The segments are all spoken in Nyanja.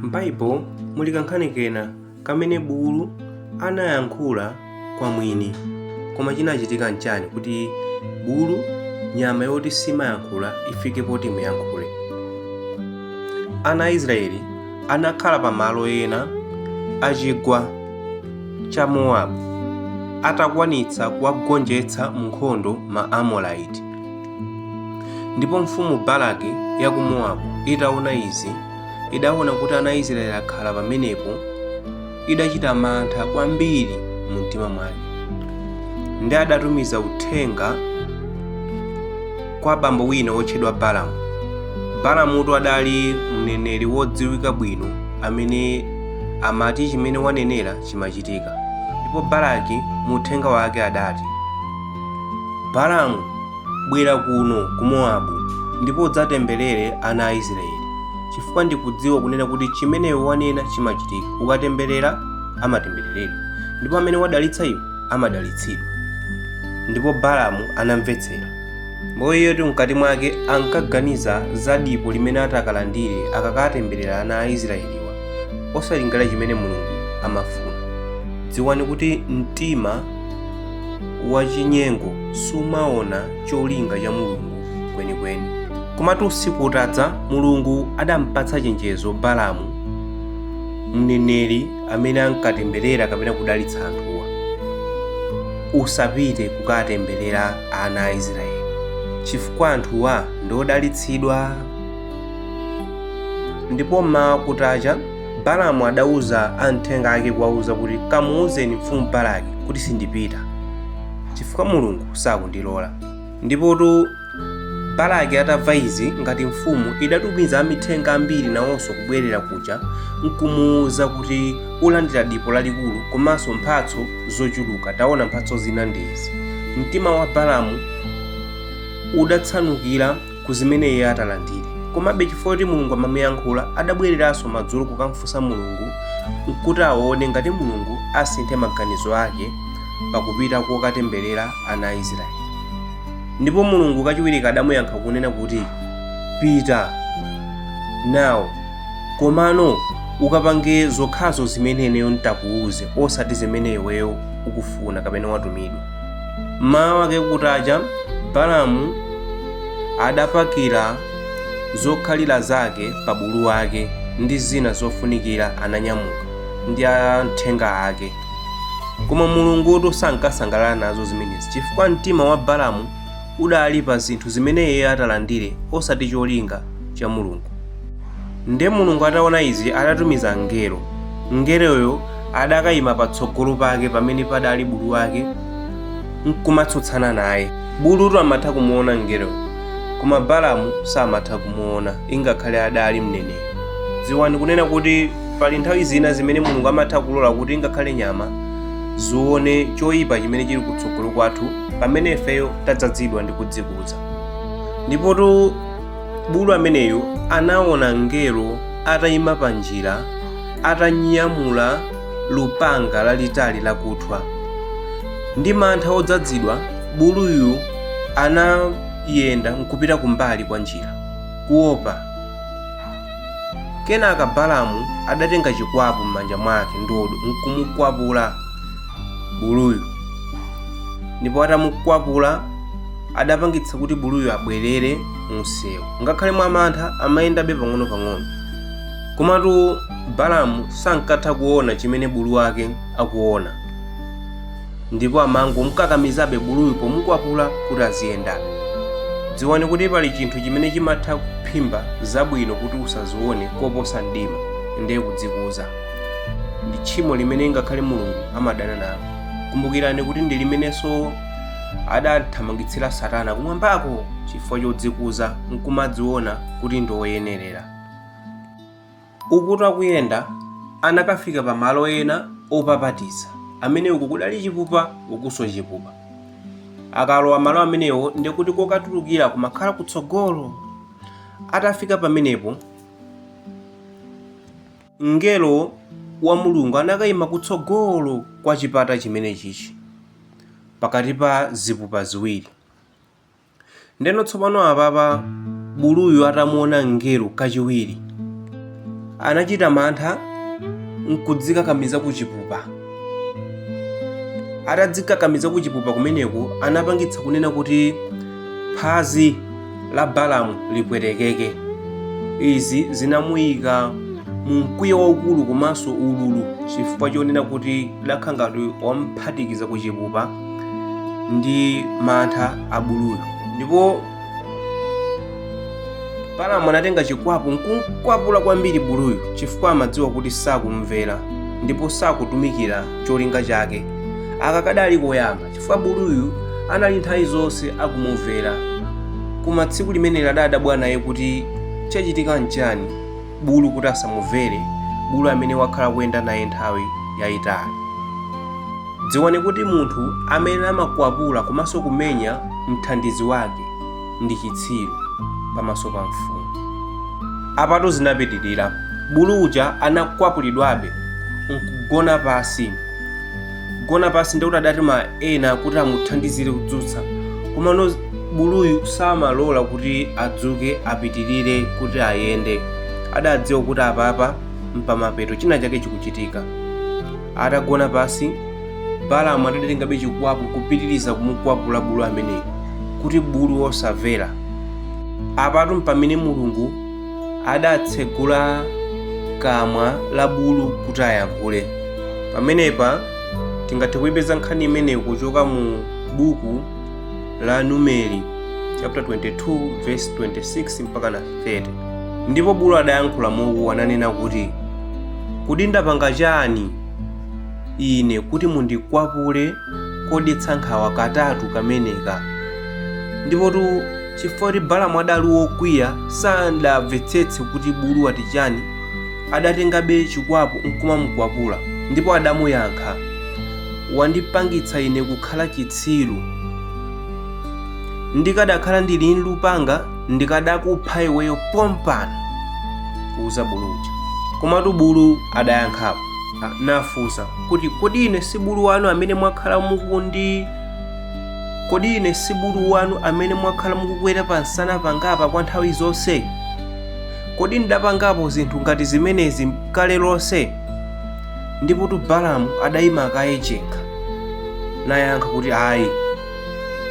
M'Baibo muli kankhani kena kamene bulu anayankhula kwa mwini. Koma cinacitika n'ciani kuti bulu, nyama yoti simayankhula, ifike poti imuyankhule? Ana a Isiraeli anakhala pa malo ena a cigwa ca Mowabu atakwanitsa kuwagonjetsa m'nkhondo ma Amorite. ndipo mfumu balaki ya ku mowabu itaona izi idaona kuti ana israeli akhala pamenepo idachita mantha kwambiri mu mtima mwake ndi adatumiza uthenga kwa bambo wina wotchedwa balamu balamutu adali mneneri wodziwika bwino amene amati chimene wanenera chimachitika ndipo balaki mu uthenga wake adati Balamu, bwera kuno ku Mowabu ndipo udzatemberere ana a Isiraeli, chifukwa ndikudziwa kunena kuti chimene iwe wanena chimachitika. Ukatemberera amatembereredwa, ndipo amene wadalitsa iwe amadalitsidwa. Ndipo Balamu anamvetsera. Ndipo iyetu mkati mwake ankaganiza za dipo limene atakalandire akakatemberera ana a Isiraeliwa, osalingalira chimene Mulungu amafuna. Dziwani kuti mtima wachinyengo sumaona cholinga cha Mulungu kwenikweni. Komatu usiku utadza, Mulungu adampatsa chenjezo Balamu, mneneri amene ankatemberera kapena kudalitsa anthuwa. Usapite kukatemberera ana a Israeli chifukwa anthuwa ndi odalitsidwa. Ndipo mmawa kutacha Balamu adauza amthenga ake kuwauza kuti, Kamuuzeni mfumu Balaki kuti sindipita, chifukwa Mulungu sakundilola. Ndipotu Balaki atamva izi, ngati mfumu, idatumiza amithenga ambiri nawonso kubwerera kuja nkumuuza kuti, Ulandira dipo lalikulu komanso mphatso zochuluka. Taona mphatso zina ndi izi. Mtima wa Balamu udatsamukira ku zimene iye atalandire komabe chifukwa kuti mulungu amamuyankhula adabwereranso madzulo kukamfunsa mulungu nkuti aone ngati mulungu asinthe maganizo ake pakupita kukatemberera ana a israeli ndipo mulungu kachiwirika adamuyankha kunena kuti pita nawo komano ukapange zokhazo zimene ineyo nditakuuze osati zimene iweyo ukufuna kapena watumidwa Mmawa wake kutacha, Balamu adapakira zokhalira zake pa bulu wake ndi zina zofunikira ananyamuka ndi amthenga ake. Koma Mulungutu sankasangalala nazo zimenezi chifukwa mtima wa Balamu udali pa zinthu zimene iye atalandire osati cholinga cha Mulungu. Ndiye Mulungu ataona izi, adatumiza mngelo. Mngeloyo adakaima patsogolo pake pamene padali bulu wake nkumatsutsana naye. Bulutu amatha kumuona mngeloyo, koma Balamu samatha kumuona ingakhale adali mneneri. Dziwani kunena kuti pali nthawi zina zimene Mulungu amatha kulola kuti ingakhale nyama zione choyipa chimene chili kutsogolo kwathu pamene ifeyo tadzadzidwa ndi kudzikuza. Ndipotu bulu ameneyu anaona mngelo atayima pa njira atanyamula lupanga lalitali lakuthwa ndi mantha odzadzidwa buluyu anayenda nkupita kumbali kwa njira kuopa kenaka balamu adatenga chikwapu m'manja mwake ndodo nkumukwapula buluyu ndipo atamukwapula adapangitsa kuti buluyo abwerere mumsewu ngakhale mwamantha amayendabe pang'onopang'ono komatu balamu sankatha kuona chimene bulu wake akuona ndipo amangomkakamizabe buluyu pomukwapula kuti aziyendabe dziwani kuti pali chinthu chimene chimatha kuphimba zabwino kuti usazione koposa mdima ndiye kudzikuza ndi tchimo limene ngakhale mulungu amadana nalo kumbukirani kuti ndi limenenso adamthamangitsira Satana kumwambako chifukwa chodzikuza nkumadziona kuti ndi woyenerera. Ukutu akuyenda, anakafika pamalo ena opapatiza, amene uku kudali chipupa ukunso chipupa. Akalowa malo amenewo ndi kuti kokatulukira kumakhala kutsogolo. Atafika pamenepo, mngelo wa Mulungu anakaima kutsogolo kwa chipata chimenechichi. pakati pa zipupa ziwiri ndeno tsopano apapa buluyu atamuona mngelo kachiwiri anachita mantha nkudzikakamiza kuchipupa atadzikakamiza kuchipupa kumeneko anapangitsa kunena kuti phazi la Balamu lipwetekeke. Izi zinamuyika mu mkwiyo waukulu komanso ululu chifukwa chonena kuti idakhala ngati wamphatikiza ku chipupa ndi mantha a buluyo. Ndipo Balamu anatenga chikwapu nkumkwapula kwambiri buluyo chifukwa amadziwa kuti sakumvera ndipo sakutumikira cholinga chake. Aka kadali koyamba. chifukwa buluyu anali nthawi zonse akumumvera koma tsiku limeneli adadabwa naye kuti chachitika nchani bulu kuti asamumvere bulu amene wakhala kuyenda naye nthawi yayitali dziwani kuti munthu amene amakwapula komanso kumenya mthandizi wake ndi chitsiru pamaso pa mfumu apatu zinapitirira bulu uja anakwapulidwabe nkugona pansi kugona pansi ndikuti adatuma ena kuti amuthandizire kudzutsa komano buluyu samalola kuti adzuke apitirire kuti ayende adadziwa kuti apapa mpamapeto china chake chikuchitika atagona pansi balamu adatengabe chikwapu kupitiriza kumukwapula bulu ameneyi kuti bulu osamvera apatu mpamene mulungu adatsegula kamwa la bulu kuti ayankhule pamenepa tingathe kuipeza nkhani imeneyi kuchoka mu buku la numeri chapter 22 verse 26 mpakana 30 ndipo bulu adayankhula momwe ananena kuti kodi ndapanga chani ine kuti mundikwapule kodetsa nkhawa katatu kameneka ndipotu chifukwa kuti balamu adali wokwiya sadamvetsetse kuti bulu wati chani adatengabe chikwapu nkumamukwapula ndipo adamuyankha wandipangitsa ine kukhala chitsiru ndikanakhala ndili nlupanga ndikanakupha iweyo pompano kuuza bulu uja komatu bulu adayankhapo nafunsa kuti kodi ine si bulu wanu amene mwakhala mukundi kodi ine si bulu wanu amene mwakhala mukukwera pa nsana pangapa kwa nthawi zonse kodi ndidapangapo zinthu ngati zimenezi kale lonse ndipotu balamu adayima kaye yekha nayankha kuti ayi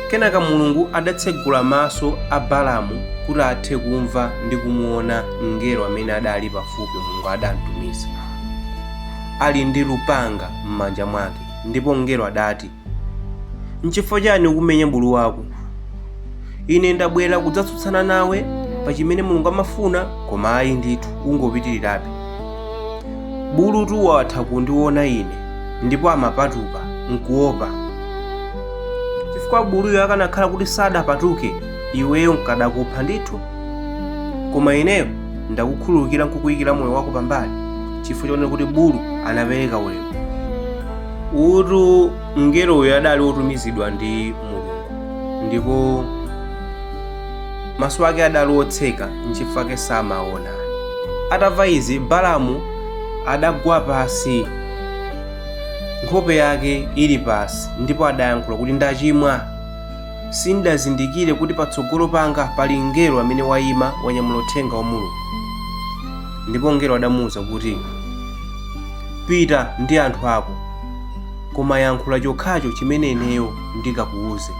Kenaka Mulungu adatsegula maso a Balamu kuti athe kumva ndi kumuona mngelo amene adali pafupi Mulungu adamtumiza ali ndi lupanga m'manja mwake ndipo mngelo adati, Nchifukwa chani ukumenya bulu wako? ine ndabwera kudzatsutsana nawe pa chimene mulungu amafuna koma ayi ndithu ukupitirirabe bulutu watha kundiona ine ndipo amapatuka nkuopa chifukwa buluyo akanakhala kuti sanapatuke iweyo nkanakupha ndithu koma ineyo ndakukhululukira nkukuyikira moyo wako pambali chifukwa chonena kuti bulu anapereka ulemu utu mngeloyo adali wotumizidwa ndi mulungu ndipo maso ake adali otseka nchifukwa chake samaona atamva izi balamu adagwa pasi nkhope yake ili pasi ndipo adayankhula kuti ndachimwa sindidazindikire kuti patsogolo panga pali mngelo amene wayima wanyamula uthenga wa mulungu ndipo mngelo adamuwuza kuti pita ndi anthu ako koma yankhula chokhacho chimene ineyo ndikakuwuze.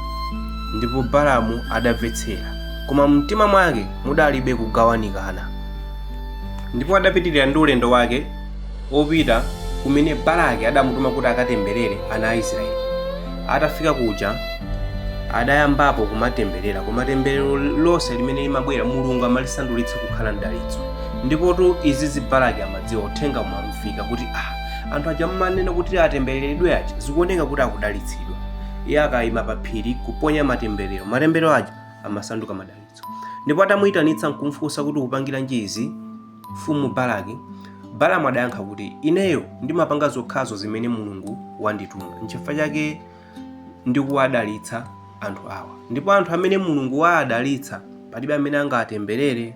Ndipo Balamu adamvetsera, koma mumtima mwake mudalibe kugawanikana. Ndipo adapitirira ndi ulendo wake opita kumene Balaki adamutuma kuti akatemberere ana a Israeli. Atafika kuja adayambapo kumatemberera, koma temberero lonse limene limabwera Mulungu amalisandulitsa kukhala mdalitso. Ndipotu izizi Balaki amadziwa, uthenga umamfika kuti ah, anthu aja mmanena kuti atembereredwe aja zikuoneka kuti akudalitsidwa iye akayima pa phiri kuponya matemberero matemberero aja amasanduka madalitso ndipo atamuyitanitsa nkumfunsa kuti ukupangira chani izi mfumu balaki balamu adayankha kuti ineyo ndimapanga zokhazo zimene mulungu wandituma nchifukwa chake ndikuwadalitsa anthu awa ndipo anthu amene mulungu waadalitsa palibe amene angawatemberere